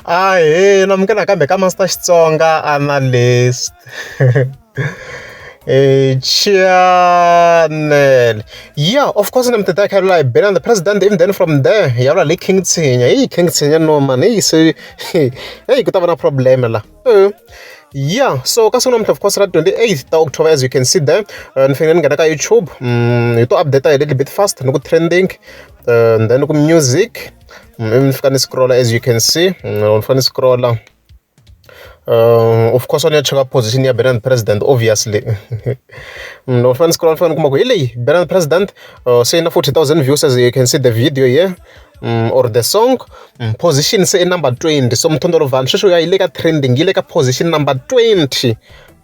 Ahee na munghana nakambe ka Master Xitsonga Analyst Channel ya of course na mi ti tsakela laha hi bela na president even then from there hi ya la le King Tshinya heyi King Tshinya no mani heyi se heyi ku ta va na problem la ya so ka siku namuntlha of course ra 28 ta October as you can see there uh, ni fanele ni nghena ka YouTube mm, hi to update a little bit fast ni ku trending uh, then ku music ni fika ni scroll-a as you can see ni fane ni scroll-a of course a ni ya cheka position ya Benin president obviously loko ni fane ni scroll-a ni fane ni kuma ku hi leyi Benin president se yi na 40000 views as you can see the video here mm, or the song mm, position se i number 20 so mthondolo vanhu sweswi ya yi le ka trending yi le ka position number 20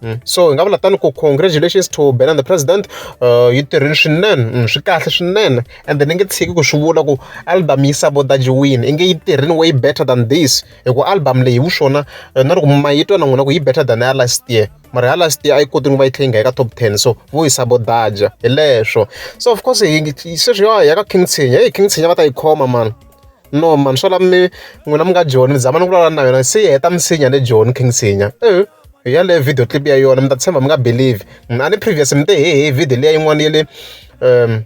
Mm. so hi nga vula tani ku congratulations to ben and the president uh, yi tirhini swinene mm, swi kahle swinene and then ni nge tshiki ku swi vula ku album yi sabotajiwini i nge yi tirhini way better than this hi ku album leyi hi swona uh, na loko mayitwa na n'wina ku yi better than ya last year mara ya last year a yi koti ni va yi tlhe yi nga yi ka top ten so vo yi sabotaja hi leswo so of course sweswi ya ya ka king tshinya heyi king tshinya va ta yi khoma mani no mani swo la mi n'wina mi nga joni ni zama ni vulavula na yona se yi heta misinya ni joni king sinya e hi yaleyo video clip ya yona mi ta tshemba mi nga believe a ni previous mi te he he video leya yin'wana ya le um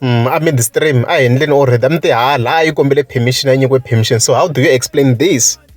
mm, a midstream a hi endleni already a mi te hala a yi kombele permission a nyikiwe permission so how do you explain this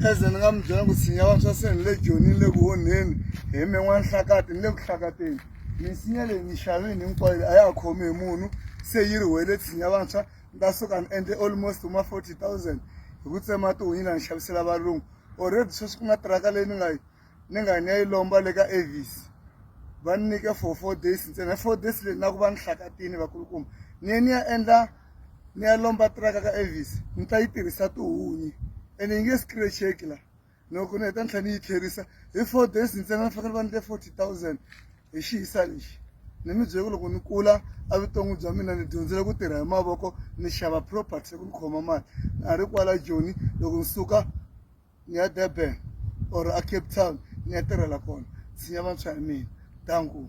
Khensani ni nga mi byela ku sinya wa swa seni le joni ni le ku onheni hi me n'wanhlakati ni le ku hlakateni misinya leyi ni xavini hinkwayo a ya ha khomi hi munhu se yi ri wele tshinya vantshwa ni ta suka ni endle almost ma forty thousand hi ku tsema tihunyi la ni xavisela valungu already sweswi ku na tiraka leyi ni nga yi ni nga ni ya yi lomba le ka avis va ni nyika for four days ntsena four days leyi na ku va ni hlakatini vakulukumba ni ye ni ya endla ni ya lomba tiraka ka avis ni ta yi tirhisa tihunyi ene yi nge scratcheki la loko ni heta ni tlhela ni yi tlherisa hi four days ntsena ni fanele va ni le forty thousand hi xiyisa lexi ni mi byele ku loko ni kula evuton'wi bya mina ni dyondzile ku tirha hi mavoko ni xava property ku ni khoma mali na ha ri kwala joni loko ni suka ni ya durban or a cape town ni ya tirhela kona tshinya vantshwa hi mina danku